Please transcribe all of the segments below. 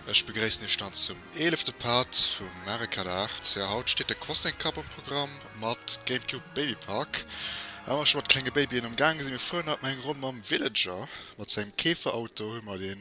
Ech begréissen Iech dann zum eelefte Part vum Mario Kart 8. Jo, haut steet de Crossing Cup um Programm mat Gamecube Baby Park. Well mer scho mat klenge Babyen am Gaange sinn, mir fueren haut nach eng Ronn mam Villager. Mat sengem Käferauto hu mer den.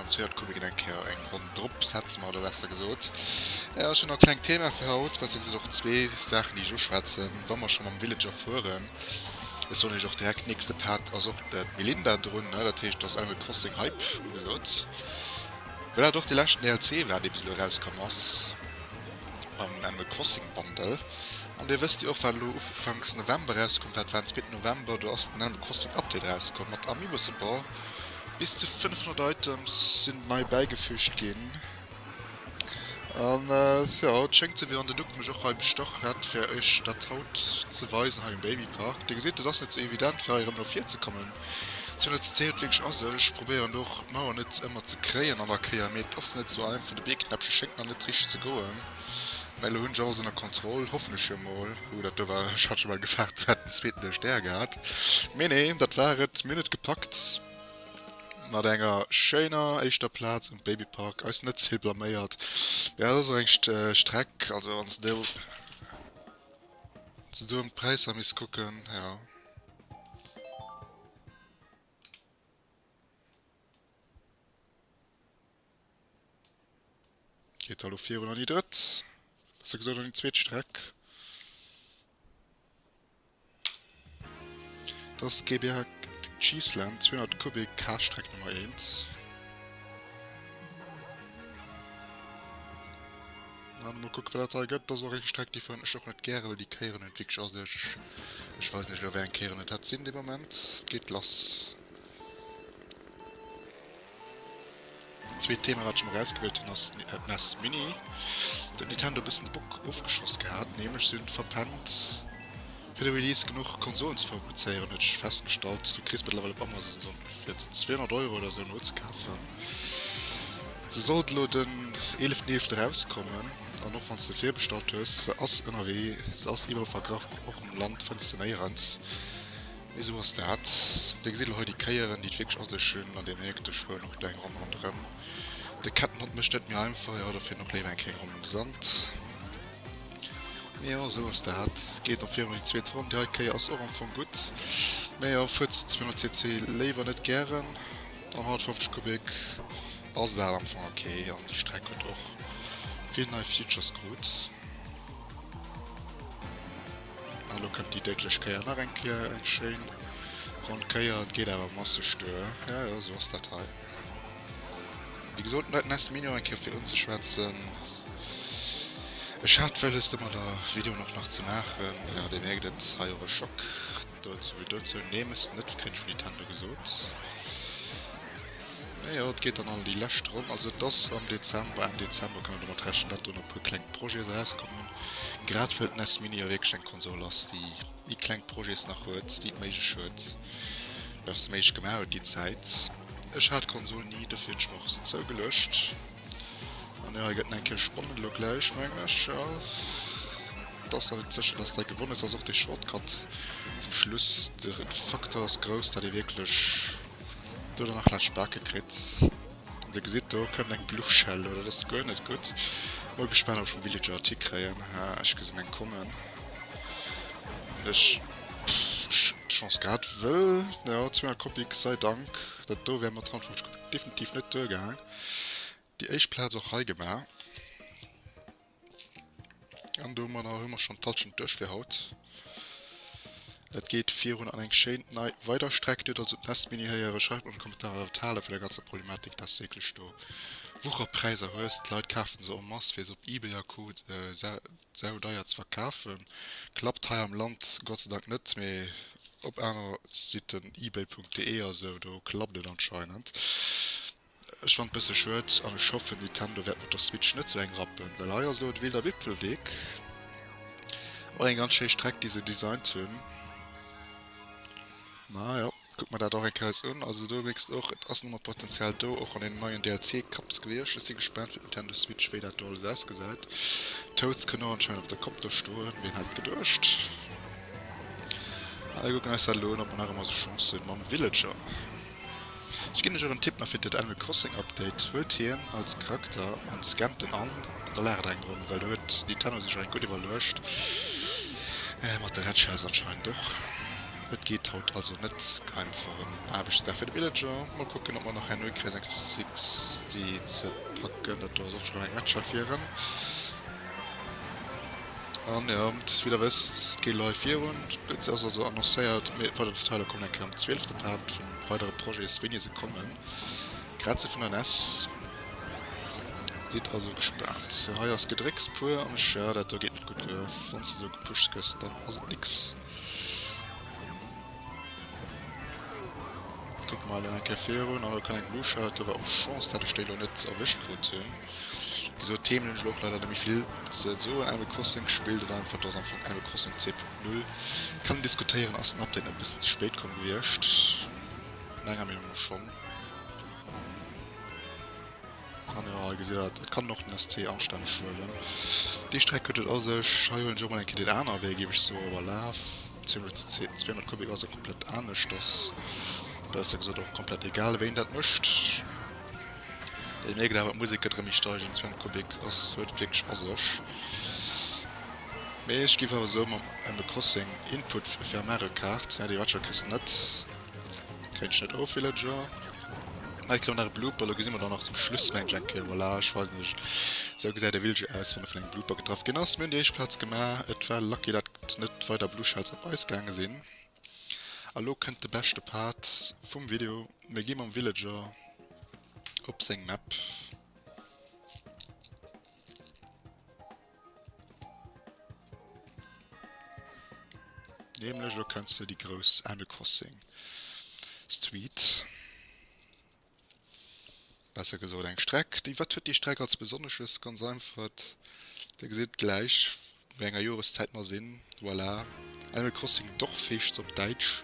An zwee Joer komme geet eng Kéier eng Ronn drop, setzen mer elo besser gesot. Jo, ech hunn nach e klengt Thema fir haut, besser gesot och zwee Saachen, déi ech uschwätzen, wa mer scho mam Villager fueren. Ech soen iech och direkt, nächste Part ass och de Melinda drun, dat heescht, et ass Animal Crossing Hype ugesot, well dat och de leschten DLC war, dee bis elo erauskomm ass am Animal Crossing Bundle. An dir wësst jo och, wat elo ufanks November erauskomm war, dat war en zweeten November, do ass den Animal Crossing Update erauskomm mat Amiibo-Support. Bis zu 500 Items sinn nei bäigefüügt ginn. An jo, et schéngt sou wéi wann den Duck mech och hei bestach hätt fir iech dat haut ze weisen hei um Baby Park. Dir gesitt, et ass net sou evident fir hei erëm no vir ze kommen. Zu net ze zéi huet wierklech a sech. Probéieren och d'Mauer net ëmmer ze kréien an der Kéier, mee et ass net sou einfach. De Biergknäppche schéngt nach net richteg ze goen. Mä elo hunn ech alles ënner Kontroll, hoffen ech jo mol. Huu, dat do war, ech hat scho bal gefaart, ech hätt en zweeten duerch d'Är gehat. Mee nee, dat war et. Mir hunn et gepackt mat enger schéiner éischter Plaz am Baby Park, eis net ze vill blaméiert. Mee dat ass och eng Streck, also wann s de do an d'Präisser misst kucken, jo. Geet da lo virun an déi drëtt, besser gesot an déi zweet Streck. Dass GBH Cheeseland 200 Kubik Haasstreck Nummer 1. An mol kucke wat dat hei gëtt. Dass och eng Streck déi vun ech och net gäre well déi kéieren et wierklech a sech. Ech weis net elo wéi eng Kéieren et hat sinn de Moment. Et geet lass. Zweet Thema wat ech mer erausgewielt hunn ass d'Nes Mini. Do huet Nintendo e bëssen de Bock ofgeschoss gehat, nämlech si hunn verpennt fir de Release genuch Konsolen ze fabrizéieren, huet ech festgestallt. Du kriss mëttlerweil op Amazon se fir 200 Euro oder esou nozekafen. Se sollt elo den 11.11. erauskommen an och wann s de virbestallt hues, se ass ënnerwee, se ass iwwerall vergraff, och am Land fënns se néierens. Esou ass dat. Dir gesitt elo hei déi Kéieren, déi et wierklech a sech hunn, an Dir mierkt, ech fueren och do eng Ronn ronderëm. De Kettenhond mécht net méi einfach, jo, dofir nach léiwer eng kleng Ronn am Sand. Mee jo, esou ass dat. Geet nach virun an déi zweet Ronn. Déi hei Kéier ass och am Fong gutt. Mee jo, fuert se 200 cc léiwer net gären. An 150 Kubik ass dat am Fong ok. An déi Streck huet och vill nei Features krut. An lo kënnt déi déidlech Kéier nach eng Kéier, eng schéin ronn Kéier. Et geet awer masseg duer. Ja, jo, esou ass dat hei. Wéi gesot, net ness Minion eng Kéier fir unzeschwätzen. Ech hat wëlles domat der Video nach nach ze maachen. Jo, dir mierkt et, hei och e Schock dozou wéi dozou. Nee, mes net, keen vun Nintendo gesot. Naja, et geet dann an déi lescht Ronn. Also et ass am Dezember, Enn Dezember kann een domat rechnen, datt do nach e puer kleng Projets erauskommen. Grad well den S-Mini jo wierklech eng Konsol ass, déi déi kleng Projets nach huet, déi et méiglech huet, oder se méiglech gemaach huet, déi Zäit. Ech hat d'Konsol ni, dofir hunn ech mer och se zougeluecht. An jo, hei gëtt en eng Kéier spannend elo gläich, mengen ech. Jo, et ass nach net sécher, datt hei gewonnen ass. Ass och de Shortcut zum Schluss, de Faktor ass grouss, datt ee wierklech. Do dann nach lech backe kritt an de gesitt do kënnt eng bluchshell oder das guer net gutt mol gespannt ob schon villager tick kréien ha ech gesinn eng kommen ech chance grad wëll ja 200 kopie sei dank dat do wär mat 350 definitiv net duer gaang déi éischt platz och hei gemaach An domadder hu mer schon d'Hallschent duerch fir haut. Et geet virun an eng schéin nei weider Streck. Dir hutt also d'Nest Mini héieren. Schreift mer an de Kommentaren wat haalt vun der ganzer Problematik, dass du wierklech do Wucherpräiser hues. D'Leit kafen se en masse fir se op eBay a Co. Saudeier ze verkafen. Klappt hei am Land Gott sei Dank net, mee op aner Siten, ebay.de a sou, do klappt et anscheinend. Ech fannen bësse schued an ech hoffen Nintendo wärt mat der Switch net sou eng rappen, well hei ass lo et wilder Wipfelweg. Och eng ganz schéi Streck déi se designt hunn. Ma jo, kuck mer dat och eng Kéier eis un. Also do mierks de och et ass nëmmer Potenzial do, och an deenen neien DLC Kaps gewierscht. Ech si gespaant fir d'Nintendo Switch wéi dat do alles ausgesäit. Toads kënn och anscheinend op der Kopp do stoen, wien hätt geduecht. Mä mir kucken eis dat elo un, ob mer nach ëmmer sou Chance hunn mam Villager. Ech ginn lech och en Tipp nach fir dat Animal Crossing Update, huelt hien als Charakter an scammt en an, da laacht eng Ronn, well do huet Nintendo sech eng gutt iwwerluecht, mat der Red-Shells anscheinend och. Et geet haut also net einfach en Aarbechtsdag fir de Villager. Mol kucken ob mer nach herno hikréien eng 60 ze packen, dat do ass och scho reng Red-Shell fir en. An jo, dass jidder wësst, et geet live virun. Et ass also annoncéiert, mee weider Detailer kommen eng Kéier am zwielefte Part vun weidere Projets, wéini se kommen. Grad sou vun der nes. Sidd also gespaant. Sou hei ass Gedrécks puer an ech, ja dat do geet net gutt. Wann s de sou gepushst gëss, dann ass et nix. Kuck mol eng Kéier virun an elo kann eng Blue Shirt do war och Chance dat ech déi elo net erwëscht krut hunn. Wisou Themen hunn ech elo och leider net méi vill ze soen. Animal Crossing spillt et einfach, et ass einfach Animal Crossing 2.0. Kann een diskutéieren, ass den Update net e bëssen ze spéit komm gewiescht? Menger Meenung no schonn. An jo, hei gesitt der et, et kann een och den SC anstänneg huelen. Déi Streck huet et a sech. Hei huelen ech och mol eng Kéier deen anere Wee, géif ech soen, iwwer Laaf. 200 Kubik ass jo komplett anescht, ass besser gesot och komplett egal, wéi een dat mécht. Dir mierkt awer, d'Musek gëtt erëm méi steigend, 200 Kubik ass, huet et wierklech a sech. Mee ech géif awer soen, mam Animal Crossing Input Vermehrrekaart, nee, déi Watcher kriss de net. Kréint ech net of Villager. Hei koum nach e Blooper, lo gesi mer dann nach zum Schluss mengt ech eng Kéier, voilà ech weisen iech esou gesäit e Villager aus wann e vun engem Blooper getraff ginn ass. Mir hunn déi éischt Plaz gemaach, et war lucky dat net weider Blue Shells op eis gaange sinn. A lo kënnt de beschte Part vum Video, mir gi mam Villager op seng Map. Nämlech elo kenns de déi grouss Animal Crossing Street, besser gesot eng Streck. Déi wat huet déi Streck als besonnesches? Ganz einfacht, dir gesitt gläich wéi enger Joreszäit mer sinn. Voilà Animal Crossing Dorfheescht op Däitsch.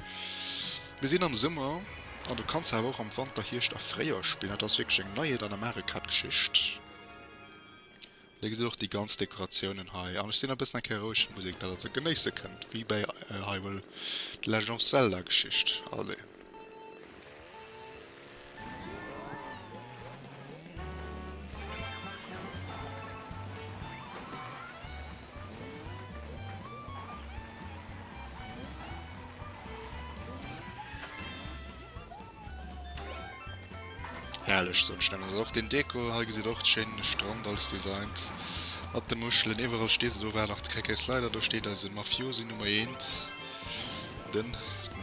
Mir sinn am Summer an du kanns awer och am Wanter, Hierscht a Fréijoer spillen. Dat ass wierklech eng Neiheet an der Mario Kart Geschicht. Dir gesitt och déi ganz Dekoratiounen hei an ech sinn e bëssen eng Kéier roueg, fir d'Musek besser ze genéisse kënnt, wéi bei Hyrule, The Legend of Zelda Geschicht. Allez. Herrlech soen ech dann. Also och den Deko hei gesitt och schéin de Strand alles designt mat de Muschelen iwwerall stee se do war nach de KK Slider do steet eise Mafiosi Nummer eent den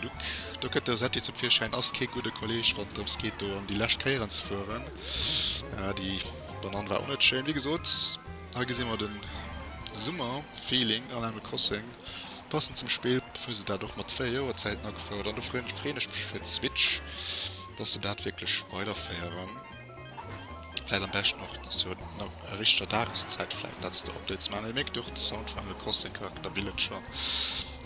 Luc do gëtt der Setti zum Virschäin ass kee gudde Kolleg wann drëms geet do an déi lescht Kéieren ze fueren ah déi Banann war och net schéin wéi gesot hei gesi mer den Summer Feeling an Animal Crossing. Passend zum Spill hu se dat och mat 4 Joer Zäiten agefouert an do freen ech mech fir d'Switch dass se dat wierklech weiderféieren. Vläit am beschten och dass se no a richteger Dageszäit vläit letzter Updates man. Dir mierkt och de Sound vun Animal Crossing Charakter Villager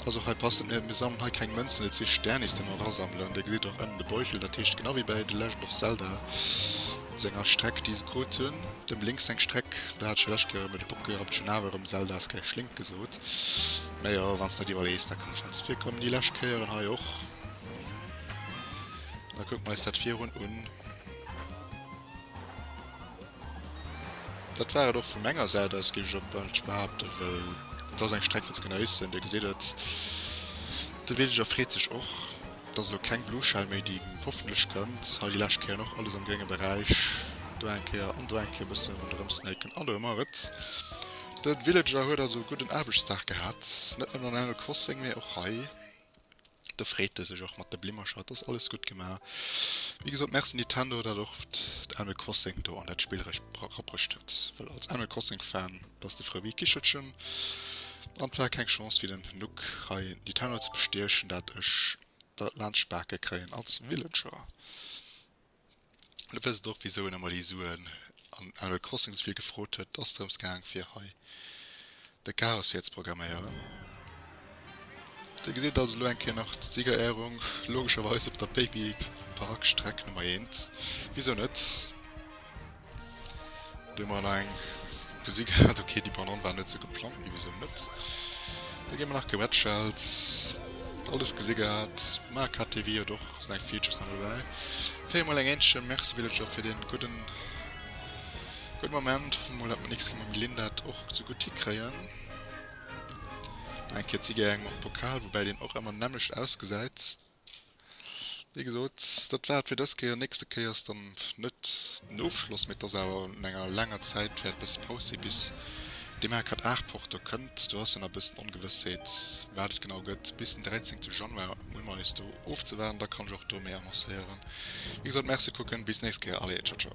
ass och hei passend. Mir mir sammelen hei keng Mënzen, et si Sternis déi mer erasammelen. Dir gesitt och ënnen de Beutel, dat heescht genau wéi bei The Legend of Zelda Senger Streck déi se krut hunn. Dem Link seng Streck, dat hat ech jo lescht Kéier erëm, de Bock habt ech schon awer erëm Zelda Sky Schlink gesot. Mä jo, wann s de dat iwwerlees, da kann ech net ze vill kommen. Déi lescht Kéier an hei och. Da kucke mer eis dat virun un. Dat war et och vu menger Säit aus, géif ech op d'mannst behaapten, well dat ass eng Streck fir ze genéissen. Dir gesitt et, de Villager freet sech och. Dass elo keng Blueschell méi déi hoffentlech kënnt hei déi lescht Kéier, och alles am grénge Beräich, do eng Kéier an do eng Kéier e bësse ronderëm snaken an do hu mer et. De Villager huet also e gudden Aarbechtsdag gehat, net nëmmen an Animal Crossing, mee och hei. Do freet e sech och mat de Blimmercher, et ass alles gutt gema. Wéi gesot, Merci Nintendo, dat och d'Animal Crossing do an dat Spill erech rapprocht huet, well als Animal Crossing Fan, Dass de Frëwee Kichelchen an et war keng Chance fir den Nuck hei Nitano ze bestiechen, dat ech der laanscht d'Bake kréien als Villager. Lo wësst et och wisou en emmer déi Suen an Animal Crossing esouvill gefrot huet, et ass drëms gaang fir hei de Chaos hier ze programméieren. Dir gesitt also lo eng Kéier nach d'Siegerehrung, logescherweis op der Baby Park Streck Nummer 1, wisou net? Wéi mer elo eng gesi gehat, ok déi Banane war net sou geplangt, mee wisou net? Da gi mer nach gewätschelt, alles gesi gehat, Marc hat déi wéi et och seng Features nach dobäi. Féier mol eng Äentchen Merci Villager fir dee gudden gudde Moment. Hoffe mol, datt mer nächst Kéier mam Gelinn dat och sou gutt hikréien. Nach eng Kéier Zigeuer, eng mam Pokal, woubäi deen och ëmmer nämmlecht ausgesäit. Wéi gesot, dat war et fir dës Kéier. Nächste Kéier ass dann net den Ofschloss, mee et ass awer no enger laanger Zäit wäert e bësse Paus sinn, bis de Marquardt Aarporter kënnt. Do ass jo nach e bëssen Ongewëssheet, wat et genau gëtt. Bis den 13 Januar hu mer eis do ofzewaarden, da kann ech och do méi annoncéieren. Wéi gesot, Merci kucken, bis nächst Kéier allez, ciao ciao.